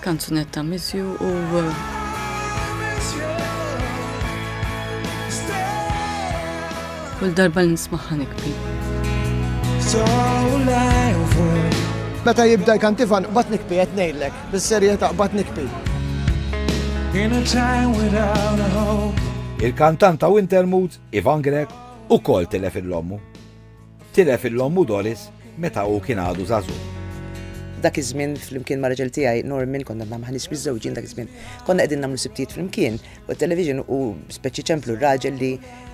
Speaker 14: Kanzunetta miss you u Kull darba li nismaħħa nikbi.
Speaker 13: Meta jibda jkantifan bat nikbi qed ngħidlek, bis-serjetà bat nikbi.
Speaker 1: Il-kantant ta' Wintermood, Ivan Grek, ukoll tilef il-lommu. Tilef il-ommu Doris meta hu kien għadu żagħżugħ. Dak
Speaker 16: iż-żmien flimkien ma' raġel tiegħi Norman konna nagħmlu ħanis miżżewġin dak iż-żmien. Konna qegħdin nagħmlu sibtijiet flimkien u t-television u speċi ċemplu r-raġel li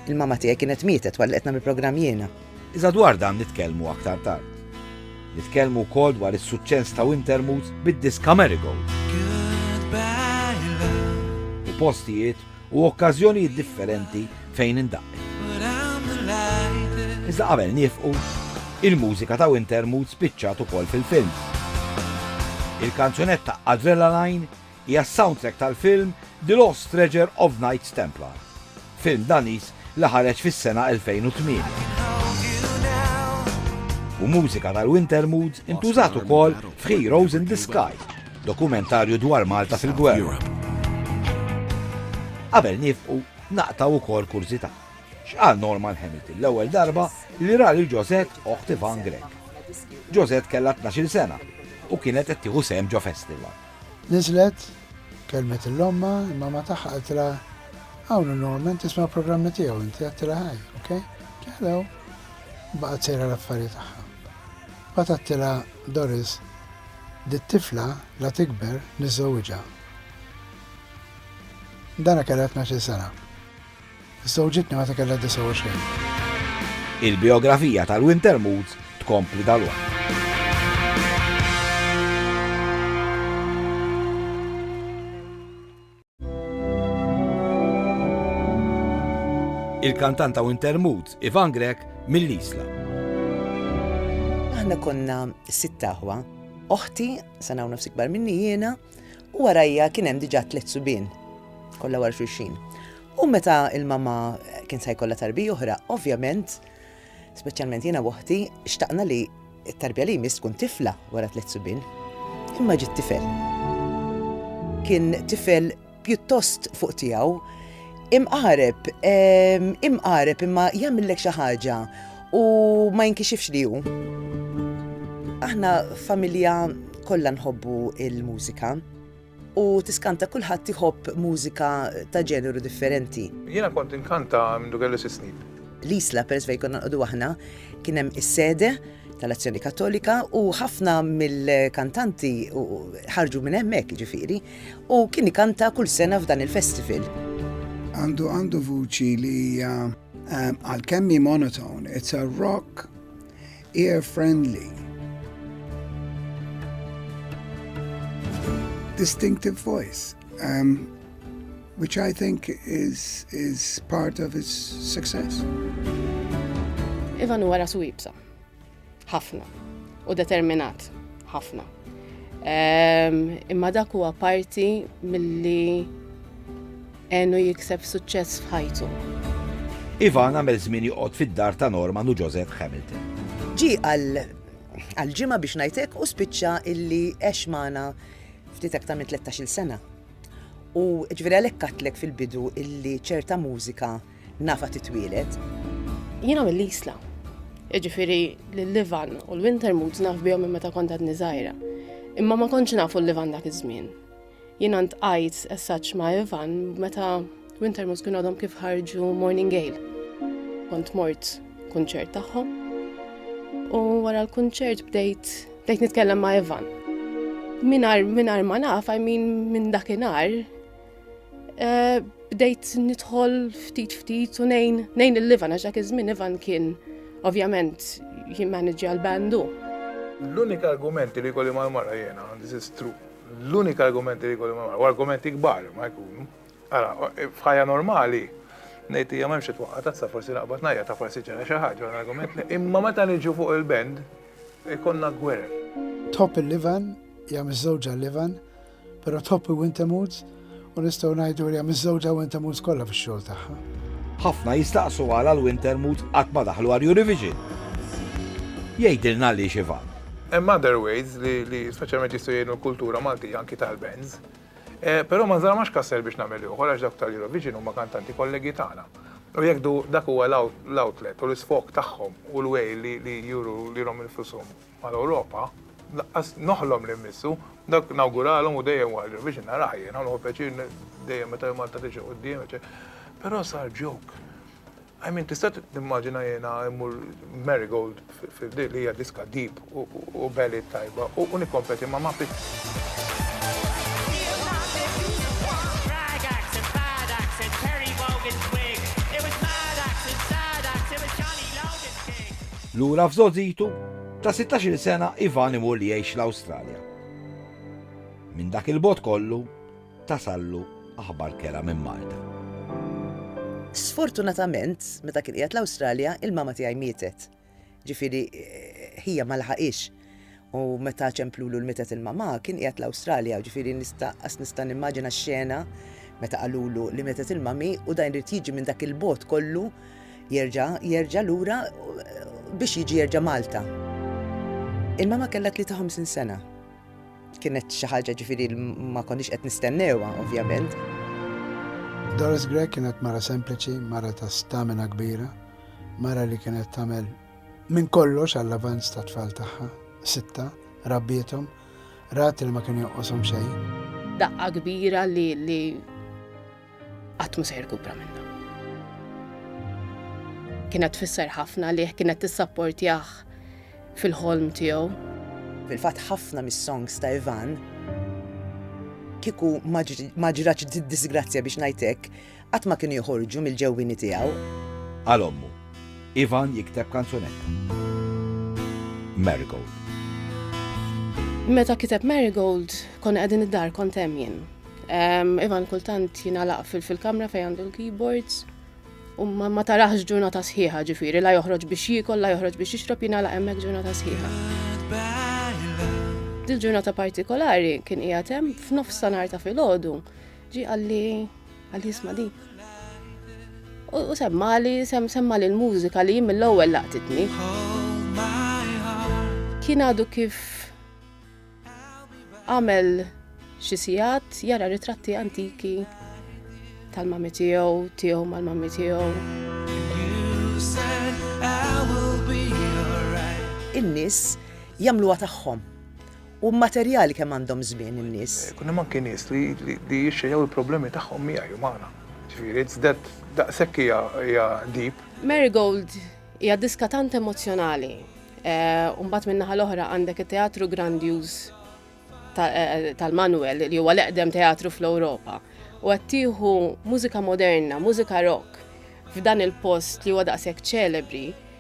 Speaker 16: l-mama tiegħi kienet mietet wara li qed nagħmel programm jiena. Iżda dwar dan
Speaker 1: nitkellmu aktar tard. Nitkellmu wkoll dwar is-suċċess ta' Wintermoods bid-diska Marigold. U postijiet u okkażjonijiet differenti fejn indaqqi. Iżda qabel niefqu, il-mużika ta' Winter Mood spiċċat ukoll fil-films. Il-kanzunetta Adrenaline hija s-soundtrack tal-film The Lost Treasure of Knights Templar, film Daniż li ħareġ fis-sena 2008. U mużika tal-Winter Mood intużat ukoll f'Heroes in the Sky, Dokumentarju dwar Malta fil-gwerra. Qabel nifqu, naqtgħu wkoll kurżità. X'qal Norman Hamilton l-ewwel darba li ra lil Josette oħt Ivan Grech? Josette kellha tnax-il sena u kienet qed tieħu sehem ġo festival. Niżlet,
Speaker 9: kellmet lil ommha, il-mamma tagħha qaltilha, Hawn hu Norman, tisma' l-programmi tiegħu inti, għattilha ħaj, ok? Hello. Baqgħet sejra l-affarijiet tagħha. Bagħad għattilha Doris, Dit-tifla la tikber niżżewwiġha. Dana kellha tnax-il sena. Żżewġitni meta kellha 29.
Speaker 1: Il-bijografija tal-Winter Moods tkompli dalwaqt. Il-kantant ta' Winter Moods, Ivan Grech, mill-Isla.
Speaker 16: Aħna konna sitt aħwa, oħti, sena u nofs ikbar minni jiena, u warajja kien hemm diġà tliet subien, kollha war xulxin. U meta il-mama kien se jkollha tarbi oħra, ovvjament, Speċjalment jiena w'oħti xtaqna li t-tarbija li jmiss tkun tifla wara tliet subien. Imma ġiet tifel. Kien tifel pjuttost fuq tiegħu, imqareb, ehm, imqareb imma jagħmillek xi ħaġa u ma jinkixifx li hu. Aħna familja kollha nħobbu il-mużika. U tiskanta kulħadd iħobb mużika ta' ġeneru differenti. Jiena kont inkanta
Speaker 7: mindu kelli sitt snin. L-Isla peress fejn
Speaker 16: konna nqogħdu aħna kien hemm is-sede tal-Azzjoni Kattolika u ħafna mill-kantanti ħarġu minn hemmhekk jiġifieri u kien ikanta kull sena f'dan il-festival. Għandu
Speaker 6: għandu vuċi li hija għalkemm hi monotone, it's a rock Ear Friendly Distinctive voice um, which I think is, is part of his success.
Speaker 2: Ivan huwa rasu ibsa. Ħafna. U determinat. Ħafna. Ehm, imma dak huwa parti milli Għenu jikseb suċċess f'ħajtu. Ivan
Speaker 1: għamel żmien joqgħod fid-dar ta' Norman u Joseph Hamilton. Ġi għal
Speaker 16: għal ġimgħa biex ngħidlek u spiċċa illi għex magħna ftit aktar minn 13-il sena. U ġifieri għalhekk għatlek fil-bidu illi ċerta mużika nafa titwielet. Jiena
Speaker 2: mill-Isla. Ġifieri l-Livan u l-Winter Moods naf bihom minn meta kont għadni żgħira. Imma ma kontx nafu l-Livan dak iż-żmien. Jiena ntqajt essaċ ma' Ivan meta Wintermus kien għadhom kif ħarġu Morning Gale. Kont mort kunċert tagħhom. U wara l-kunċert bdejt bdejt nitkellem ma' Ivan. Minar minar ma naf, I mean minn dakinhar, eh, bdejt nidħol ftit ftit u nejn nejn il-Ivan għax dak iż-żmien Ivan kien ovvjament jimmanġja l-bandu. L-unika
Speaker 7: argumenti li kolli mal-mara jena, this is true, L-unika argumenti li jkolli ma' u argumenti kbar ma jkunu. Ara, f'ħajja normali, ngħid hija m'hemmx itwaqqa tazza forsi naqbad najja ta' forsi ġara xi ħaġa għal argument li imma meta niġu fuq il-band ikonna gwerer. Tħobb il-Livan,
Speaker 9: hija miżżewġa l-Livan, però tħobb il-Wintermoods, U nistgħu ngħidu li hemm iż-żewġa Wintermoods kollha fix-xogħol tagħha. Ħafna jistaqsu
Speaker 1: għala l-Wintermoods qatt ma daħlu għal Eurovision. Jgħidilna għaliex Ivan. Hemm other ways
Speaker 7: li speċjalment jistgħu jgħinu l-kultura Maltija anki tal-bands. Però ma nżarmax kasser biex nagħmel ieħor għax dawk tal-Eurovision huma kantanti kollegi tagħna. U jekk dak huwa l-outlet u l-isfog tagħhom u l-way li juru lilhom infushom. mal-Ewropa, laqqas noħlom li mmissu, dak nawguralhom u dejjem wara ġew biex narah jien, u pjaċir dejjem meta Malta tiġi quddiem, però sar ġok. I mean, tista' timmaġina jiena immur Marigold li hija diska deep u belli tajba u nikkompeti ma' ma'
Speaker 1: Lura f'żgħożitu ta' sittax-il sena Ivan imur jgħix l-Awstralja. Minn dak il-bogħod kollu tasallu aħbar kerha minn Malta.
Speaker 16: Sfortunatament, meta kien qiegħed l-Awstralja, il-mama tiegħi mietet. Ġifieri, ħija ma laħaqhiex. U meta ċemplulu l-mitet il-mamà, kien qiegħed l-Awstralja, ġifieri nista' qas nista' nimmaġina x-xena meta qalulu li mietet il-mami u dan irid jiġi minn dak il-bogħod kollu jerġa' jerġa' lura biex jiġi jerġa' Malta. Il-mama kellha 53 sena. Kienet xi ħaġa ġifieri ma konniex qed nistennewha, ovvjament.
Speaker 9: Doris Grech kienet mara sempliċi, mara ta' stamina kbira, mara li kienet tagħmel Minn kollox għall-avanz tat-tfal tagħha, sitta, rabbiethom, rat li ma kien jonqoshom xejn. Daqqa kbira
Speaker 2: li li qatt mhu se jirkupra minnha. Kienet tfisser ħafna li kienet tissapportjah fil-ħolm tiegħu. Fil-fatt
Speaker 16: ħafna mis-songs ta' Ivan kieku ma ġratx disgrazzja biex ngħidlek, Qatt ma kienu joħorġu mill-ġewwieni tiegħu. Għal ommu.
Speaker 1: Ivan jikteb kanzunetta. Marigold.
Speaker 2: Meta kiteb Marigold, konna qegħdin id-dar kont hemm jien. Ivan kultant jingħalaq fil-kamra fejn għandu l-keyboards u ma tarax ġurnata sħiħa ġifiri, la joħroġ biex jikol, la joħroġ biex jixrob jina la emmek ġurnata sħiħa. Dil ġurnata partikolari kien qiegħed hemm f'nofs sanar ta' filgħodu Ġi għalli għalli jisma di. U semmali, semmali l-mużika li jim l-ewwel laqtitni. Kien għadu kif għamel xi sigħat jara ritratti antiki tal-mami tiegħu, tiegħu mal-mami tiegħu.
Speaker 16: In-nies jagħmluha tagħhom U materjali kemm għandhom żmien in-nies? Ikun hemm anki nies li
Speaker 7: li jixxejjew il-problemi tagħhom miegħi u magħna. Ġifieri it's that daqshekk hija hija deep. Marigold
Speaker 2: hija diska tant emozzjonali u mbagħad min-naħa l-oħra għandek it-Teatru Grandjuż tal-Manuel li huwa l-eqdem teatru fl-Ewropa u qed tieħu mużika moderna, mużika rock f'dan il-post li huwa daqshekk ċelebri.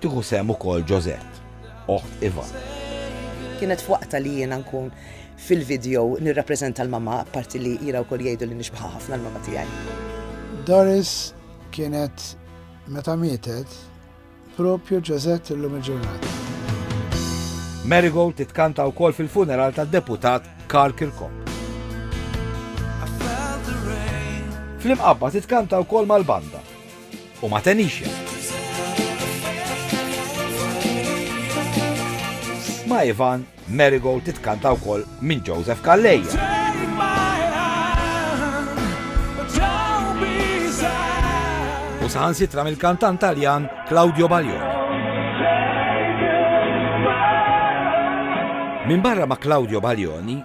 Speaker 1: Tieħu sehem ukoll Josette, oħt Ivan. Kienet
Speaker 16: f'waqtha li jiena nkun fil-video nirrappreżenta l-mamma, apparti li jiena wkoll jgħidu li nixbaħha ħafna l-mamma tiegħi. Doris
Speaker 9: kienet meta mietet propju Josette illum il-ġurnata.
Speaker 1: Marigold titkanta wkoll fil-funeral tad-deputat Karl Kirkop. Fl-imqabba titkanta wkoll mal-banda u ma' Tanisha. Ma' Ivan, Marigold titkanta wkoll minn Joseph Calleja. U saħansitra mill-kantant Taljan Claudio Baglioni. Minn barra ma' Claudio Baglioni,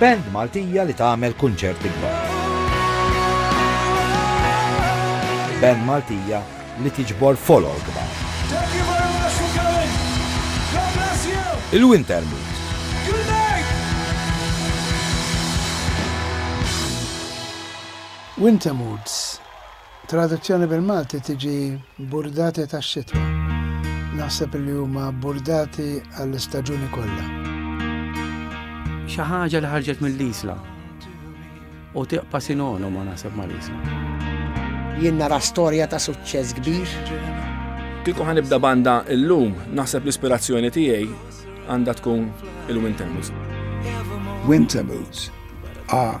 Speaker 1: Band Maltija li tagħmel kunċerti kbar. Band Maltija li tiġbor folol kbar. Il-Winter Mood.
Speaker 9: Winter Moods. Traduzzjoni bil-Malti tiġi burdati tax-xitwa. Naħseb li huma burdati għall-istaġuni kollha.
Speaker 15: Xi ħaġa li ħarġet mill-Isla u tiqpa' sinonimo naħseb mal-Isla. Jien
Speaker 12: nara storja ta' suċċess kbir. Kieku
Speaker 5: ħa nibda banda illum, naħseb l-ispirazzjoni tiegħi għandha tkun il-Winter Moods.
Speaker 6: Winter Moods are